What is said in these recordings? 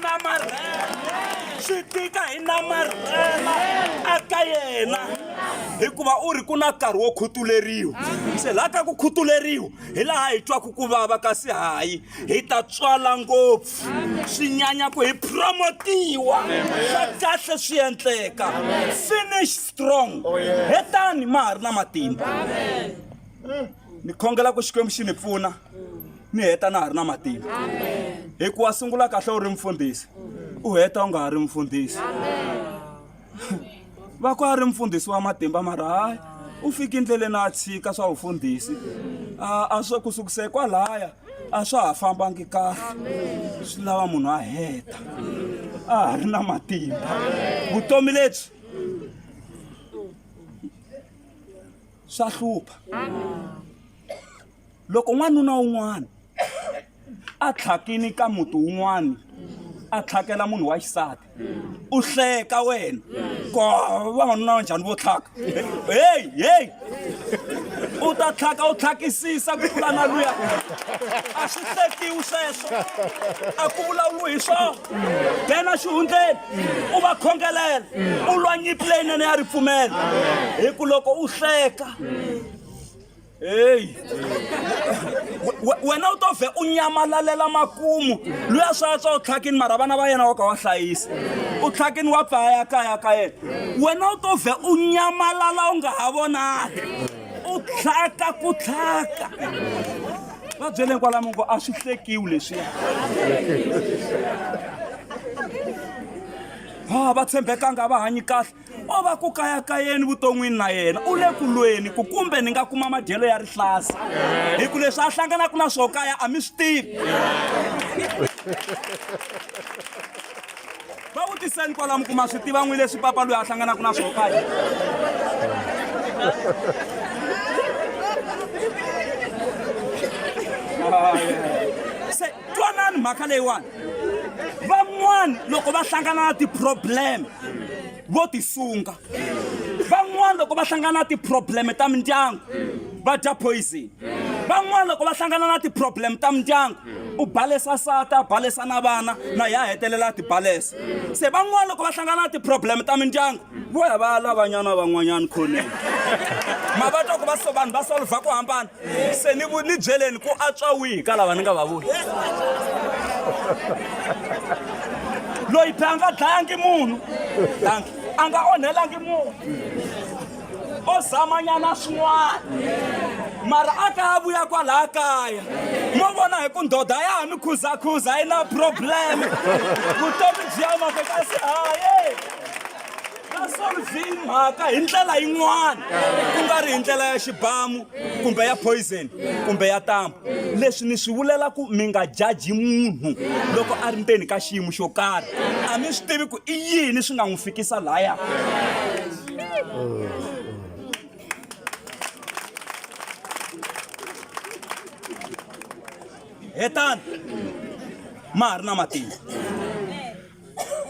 namarhela swi tika hi namarhela aka yena hikuva u ri ku na nkarhi wo khutuleriwa se laha ka ku khutuleriwa hi laha hi twaku ku vava kasi hayi hi ta tswala ngopfu swi nyanya ku hi promotiwa swa kahle swi endleka finish strong oh, hetani ma ha ri na matimba ni khongela ku xikwembu xi ni pfuna mi heta na ha ri na matimba hikuva sungula kahle u ri mfundhisi u heta u nga ha ri mfundhisi va ku a ri mfundhisi wa matimba mara hayi u fike endleleni a tshika swa vufundhisi a swo ku sukise kwalaya a swa ha fambangi kahle swi lava munhu a heta a ha ri na matimba vutomi lebyi swa hlupha loko n'wanuna un'wana a tlhakini ka muti wun'wana a tlhakela munhu wa xisati u hleka wena ko vavanuna va njhani vo tlhaka heyi heyi u ta tlhaka u tlhakisisa ku tlula na luya a swi hlekiwi sweswo a ku vulavuriwi hi swona dena xihundleni u va khongelela u lwa nyimpi leyinene ya ripfumelo hi ku loko u hleka heyi wena u to vhe u nyamalalela makumu loyi a swa tswa u tlhakini mara vana va yena wa ka wa hlayisa u tlhakini wa paya kaya ka yena wena u to vhe u nyamalala u nga ha vonali u tlhaka ku tlhaka va byeleni kwalamo ngo a swi hlekiwi leswiya va tshembekanga va hanyi kahle o va ku kayakayeni vuton'wini na yena u le ku lweni ku kumbe ni nga kuma madyelo ya rihlasa hi ku leswi a hlanganaka na swo kaya a mi swi tivi va vutiseni kwalamu ku ma swi tiva n'wi leswi papa loyi a hlanganaka na swo kaya Ah, yeah. twanani mhaka leyiwani van'wani loko va hlangana na ti-problem vo tisunga van'wani loko va hlangana na ti-problem ta mindyangu va dya poison van'wani loko va hlangana na ti-problem ta mindyangu u balesa sata a balesa na vana na ya hetelela a ti balesa se van'wani loko va hlangana na ti-problem ta mindyangu vo ya va lavanyana van'wanyana khoneni ma va twa ku va so vanhu va solva ku hambana se ni ni byeleni ku atswa wihi ka lava ni nga va vuli loyi byi a nga dlayangi munhu danki a nga onhelangi munhu o zamanyana swin'wana mara a ka a vuya kwalaha kaya mo vona hi ku ndoda ya ha mi khuzakhuza yi na problem vutomi byi ya mavekasi haye nga solvi mhaka hi ndlela yin'wana ku nga ri hi ndlela ya xibamu kumbe ya poison kumbe ya tambu leswi ni swi vulela ku mi nga jaji munhu loko a ri ndzeni ka xiyimo xo karhi a mi swi tivi ku i yini swi nga n'wi fikisa laya hetani ma ha ri na matimba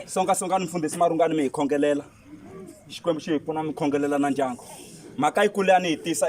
songasongani mfundhisi marungani mi hi khongelela xikwembu xi hi pfuna mi khongelela na ndyangu mhaka yi kule a ni yi tisa